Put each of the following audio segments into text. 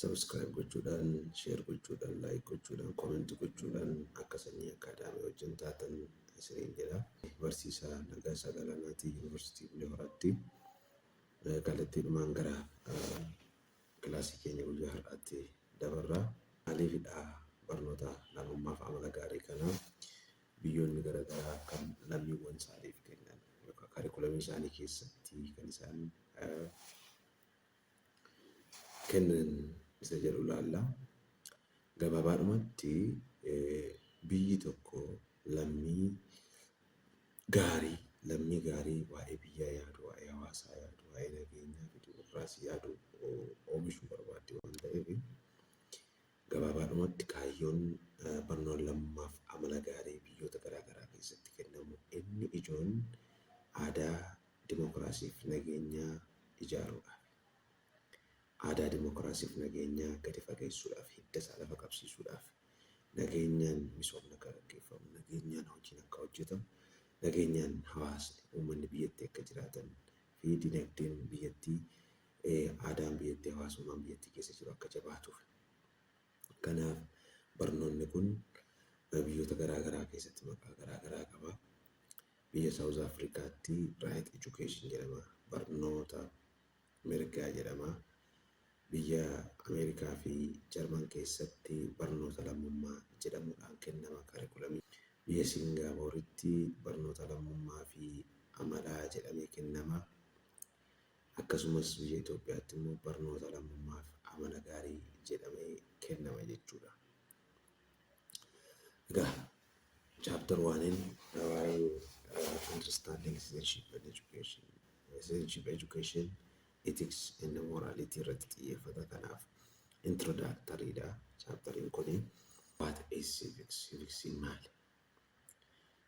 Subscribe gochuudhaan, share gochuudhaan, like gochuudhaan, comment gochuudhaan akka sanyii akkaadaamii wajjin taatan isiniin jedha. Barsiisaa Nagaasaa Galaanaatii Yuunivarsiitii Bulee Horaatti eh, kallattiidhumaan gara eh, kilaasii keenya guyyaa har'aatti dabarra. Maaliifidha barnoota namummaa fi amala gaarii kana biyyoonni garaagaraa kan lammiiwwan isaaniif kennan yookaan kaarikulamii isaanii keessatti kan isaan eh, kennan isa jedhu ilaalla. Gabaabaadhumatti biyyi tokko lammii gaarii lammii gaarii waa'ee biyyaa yaadu, waa'ee hawaasaa yaadu, waa'ee nageenyaa fi dimokiraasii yaadu oomishuu barbaaddi waan ta'eef gabaabaadhumatti kaayyoon barnoon lammummaaf amala gaarii biyyoota garaa garaa keessatti kennamu inni ijoon aadaa dimokiraasiif nageenyaa ijaaruudhaaf, aadaa dimokiraasiif nageenyaa gadi fageessuudhaaf, hidda isaa lafa qabsiisuudhaaf, nageenyaan misoomni akka gaggeeffamu, nageenyaan hojiin akka hojjetamu, nageenyaan hawaasni, uummanni biyyattii akka jiraatan fi dinagdeen biyyattii, aadaan biyyattii, hawaasummaan biyyattii keessa jiru akka jabaatuuf. Kanaaf barnoonni kun biyyoota garaa garaa keessatti maqaa garaa garaa qaba. Biyya South Africaatti right education jedhama. Barnoota mirgaa jedhama. Biyya America fi German keessatti barnoota lammummaa jedhamuudhaan kennama curriculum. Biyya Singaaporitti barnoota lammummaa fi amalaa jedhamee kennama. Akkasumas biyya Itoophiyaatti immoo barnoota lammummaa fi amala gaarii jedhamee kennama jechuudha. Egaa Chapter 1 in waa'ee uh, understanding citizenship and education, citizenship education, ethics and morality irratti xiyyeeffata kanaaf introductory dha. Chapteriin kun what is civics? Civics maali?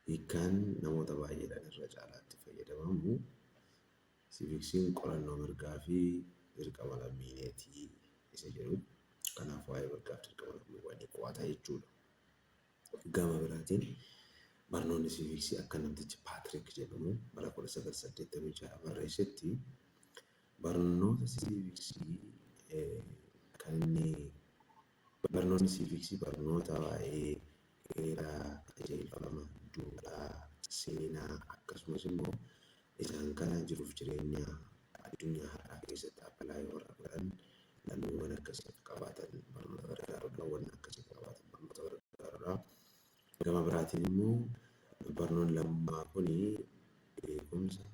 Hiikkaan namoota baay'eedhaan irra caalaatti fayyadamamu civics'n qorannoo mirgaa fi dirqama lammiileetii isa jedhu. Kanaaf waa'ee mirgaaf dirqama lammiiwwanii qo'ata jechuudha. Gama biraatiin barnoonni siiviiksii akka namtichi Paatrik jedhamu bara 1986 barreessetti barnoota siiviiksii kan inni barnoonni siiviiksii barnoota waa'ee heeraa, qajeelfama, duudhaa, seenaa akkasumas immoo Isaan kana jiruuf jireenya addunyaa har'aa keessatti apply warra godhan lammiiwwan akkasii akka qabaatan barnoota gargaarudha. Wanna akkasii akka qabaatan barnoota gargaarudha. Gama biraatiin immoo barnoon lammaa kun beekumsa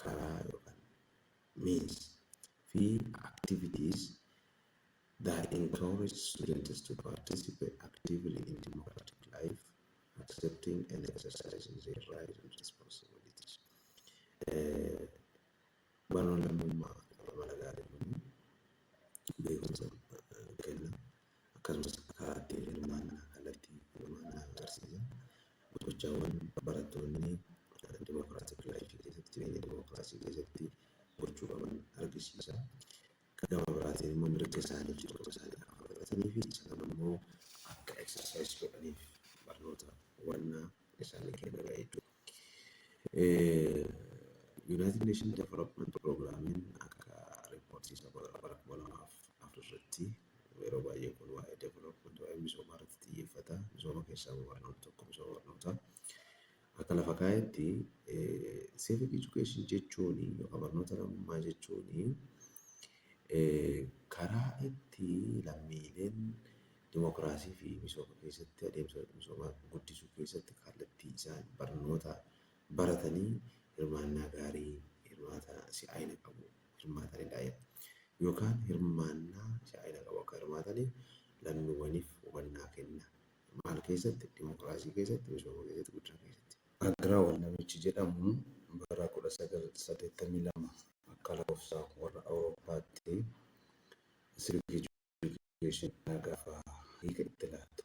karaa yookaan means fi activities that encourage students to participate actively in democratic life accepting and exercising their rights and responsibilities. Hubannoon lammummaa amala gaarii uumuu, beekumsa kenna, akkasumas karaa ittiin hirmaannaa kallattii hirmaannaa agarsiisa. Gochaawwan barattoonni dimokiraatik laayifii keessatti jireenya dimokiraasii keessatti gochuu qaban argisiisa. Ka gama biraatiin immoo mirga isaanii fixoota isaanii akka fudhatanii fi isaan ammoo akka exercise godhaniif barnoota hubannaa isaanii kennudha jechuudha. Yuunaayitid Neeshin Development Piroograamiin akka riippoortii isa bara bara kuma lamaaf afur irratti yeroo baay'ee kun waa'ee development waa'ee misoomaa irratti xiyyeeffata. Misooma keessaa immoo barnoota tokko misooma barnootaa. Akka lafa kaa'etti civic education jechuun yookaan barnoota lammummaa jechuun karaa itti lammiileen dimokiraasii fi misooma keessatti adeemsa misoomaa guddisuu keessatti kallattii isaan barnoota baratanii hirmaannaa gaarii hirmaata si'aayina qabu hirmaatanidha. Yookaan hirmaannaa si'aayina qabu akka hirmaataniif lammiiwwaniif hubannaa kenna. Maal keessatti? Dimokiraasii keessatti, misooma keessatti, guddina keessatti. Agrawal namichi jedhamu bara 1982 akka lakofsa warra Awurooppaatti civic education jennaa gaafa hiika itti laatu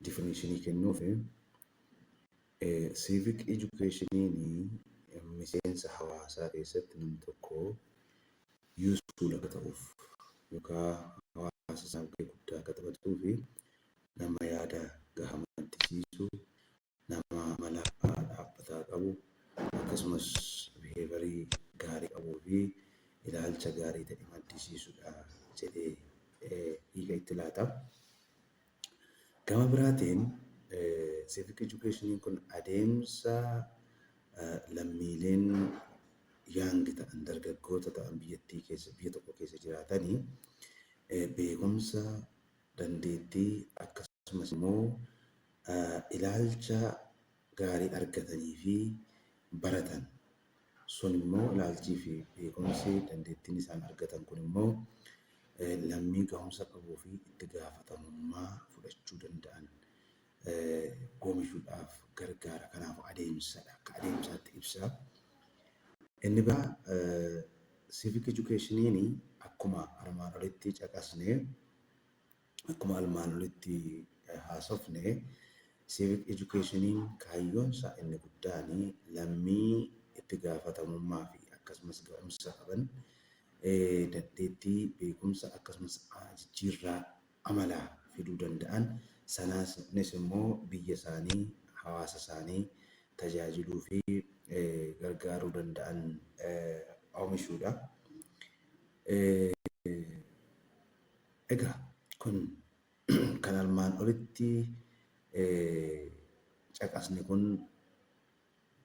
definition kennuufi civic educationiin miseensa hawaasaa keessatti nam tokko useful akka ta'uuf yookaa hawaasa isaaf gahee guddaa akka taphatuu fi nama yaada gaha maddisiisu, nama amala dhaabbataa qabu, akkasumas biheevarii gaarii qabuu fi ilaalcha gaarii ta'e maddisiisudha jedhee hiika itti laata. Gama biraatiin Civic Education kun adeemsa lammiileen young ta'an, dargaggoota ta'an biyyattii keessa, biyya tokko keessa jiraatani beekumsa, dandeettii akkasumas immoo ilaalcha gaarii argatanii fi baratan sun immoo ilaalchii fi beekumsi dandeettiin isaan argatan kun immoo lammii gahumsa qabuu fi itti gaafatamummaa fudhachuu danda'an goomishuudhaaf gargaara. Kanaaf adeemsadha akka adeemsaatti ibsa. Inni biraa civic education'n akkuma armaan olitti caqasne Akkuma armaan olitti haasofne Civic Educationiin kaayyoonsaa inni guddaan lammii itti gaafatamummaafi akkasumas ga'umsa qaban dandeettii, beekumsa akkasumas jijjiirraa amalaa fiduu danda'an sananis immoo biyya isaanii, hawaasa isaanii tajaajiluufi gargaaruu danda'an omishuudha. Egaa kun kan armaan olitti caqasne kun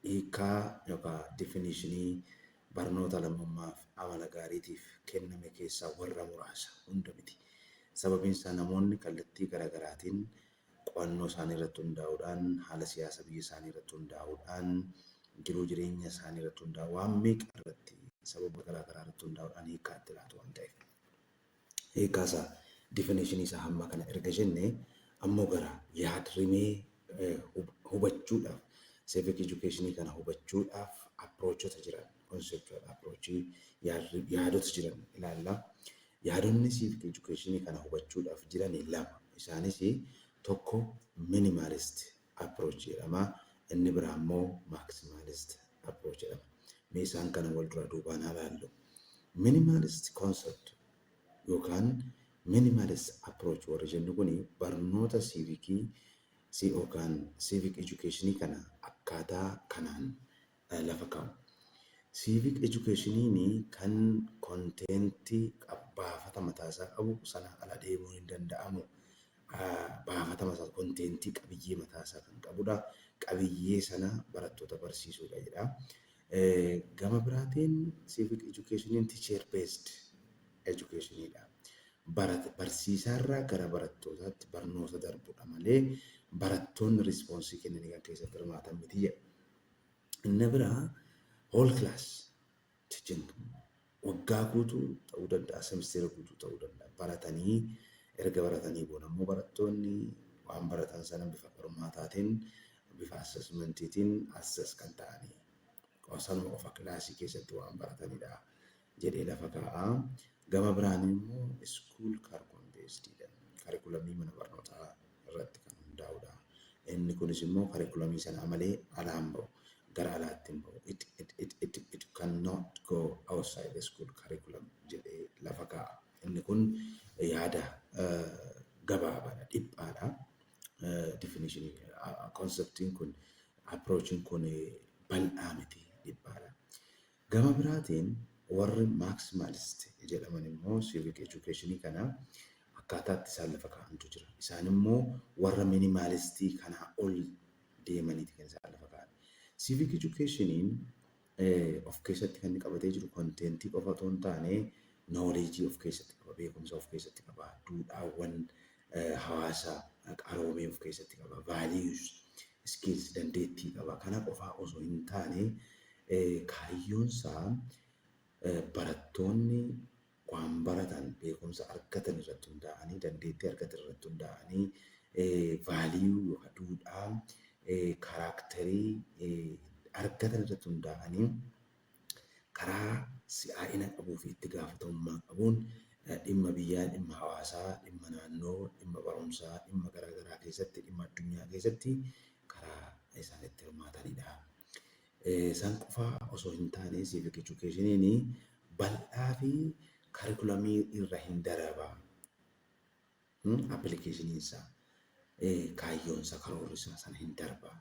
hiikkaa yookaan definishinii barnoota lammummaaf amala gaariitiif kenname keessaa warra muraasa hunda miti. Sababiin isaa namoonni kallattii gara garaatiin qo'annoo isaanii irratti hundaa'uudhaan, haala siyaasa biyya isaanii irratti hundaa'uudhaan, jiruu jireenya isaanii irratti hundaa'uudhaan, waan meeqa irratti sababa garaa garaa irratti hundaa'uudhaan hiikkaa itti laatu waan ta'eef. hiikkaa isaa, definition, isaa hamma kana erga jennee ammoo gara yaad-rimee hubachuudhaaf, civic education kana hubachuudhaaf approachota jiran, conceptual approach, yaadota jiran ilaalla. Yaadonni civic education kana hubachuudhaaf jirani lama. Isaanis tokko minimalist approach jedhama. Inni biraa immoo maximalist approach jedhama. Mee isaan kana wal duraa duubaan haa laallu. Minimalist concept yookaan minimalist approach warri jennu kuni barnoota siivikii yookaan civic education kana akkaataa kanaan lafa kaamu. Civic education kan content baafata mataa isaa qabu sanaa ala deemuun hin danda'amu. Baafatama isaa content qabiyyee mataa isaa kan qabudha. Qabiyyee sana barattoota barsiisuudha jedha. Gama biraatiin civic education teacher based education dha. Barsiisaarraa gara barattootaatti barnoota darbudha malee barattoonni rispoonsii kennanii kan keessatti hirmaatan miti jedha. Inni biraa whole class ti jennu. Waggaa guutuu ta'uu danda'a, semisteera guutuu ta'uu danda'a. Baratanii erga baratanii booda immoo barattoonni waan baratan sana bifa qormaataatiin, bifa assessmentiitiin assess kan ta'anii. Sanuma qofa kilaasii keessatti waan baratanidha. jedhee lafa kaa'a. Gama biraan immoo school carcum based dha. Karikulamii mana barnootaa irratti kan hundaa'udha. Inni kunis immoo karikulamii sanaa malee alaa hin ba'u. Gara alaatti hin ba'u. It, it, it, it, it cannot go outside the school curriculum jedhee lafa kaa'a. Inni kun yaada eh, gabaabaadha, dhiphaadha. Eh, Definition, konseptiin kun, approachin kun eh, bal'aa miti, dhiphaadha. Gama biraatiin warri Maximalist jedhaman immoo civic education kana akkaataa itti isaan lafa kaa'antu jira. Isaan immoo warra minimalist kanaa ol deemaniiti kan isaan lafa kaa'an. Civic education of keessatti kan inni qabatee jiru konteentii qofa otoo hin taane knowledge of keessatti qaba, beekumsa of keessatti qaba, duudhaawwan hawaasa qaroome of keessatti qaba. Values, skills, dandeettii qaba. Kana qofaa osoo hin taane kaayyoon isaa barattoonni waan baratan beekumsa argatan irratti hundaa'anii dandeettii argatan irratti hundaa'anii value yookaan duudhaa kaaraakterii argatan irratti hundaa'anii karaa si'aa'ina qabuu fi itti gaafatamummaa qabuun dhimma biyyaa, dhimma hawaasaa, dhimma naannoo, dhimma barumsaa, dhimma garaa garaa keessatti, dhimma addunyaa keessatti karaa isaan itti hirmaatanii dha. San qofa osoo hin taane civic educationiin bal'aa fi karikulamii irra hin daraba. appilikeeshiniin isaa kaayyoon isaa karoorri isaa sana hin darba.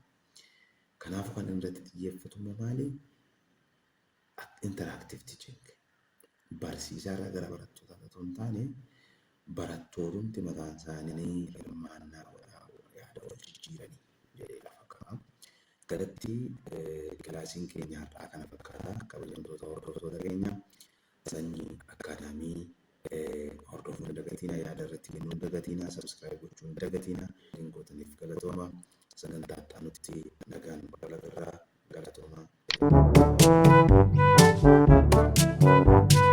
Kanaafuu kan irratti xiyyeeffatu immoo maali? Interaaktiiv tiiching. Barsiisaa irraa gara barattootaa otoo hin taane barattootumti mataan isaanii hirmaannaa godhaa yaada wal jijjiiranii jedhee lafa ka'a. Galatti kilaasiin keenya har'aa kana fakkaata. Kabajamtoota hordoftoota keenyaa. Sanyii Academy hordofu hin dagatiina yaada irratti kennu hin dagatiina subscribe gochuu hin dagatiina link gootaniif galatooma sagantaa itti aanutti nagaan wal agarraa galatooma.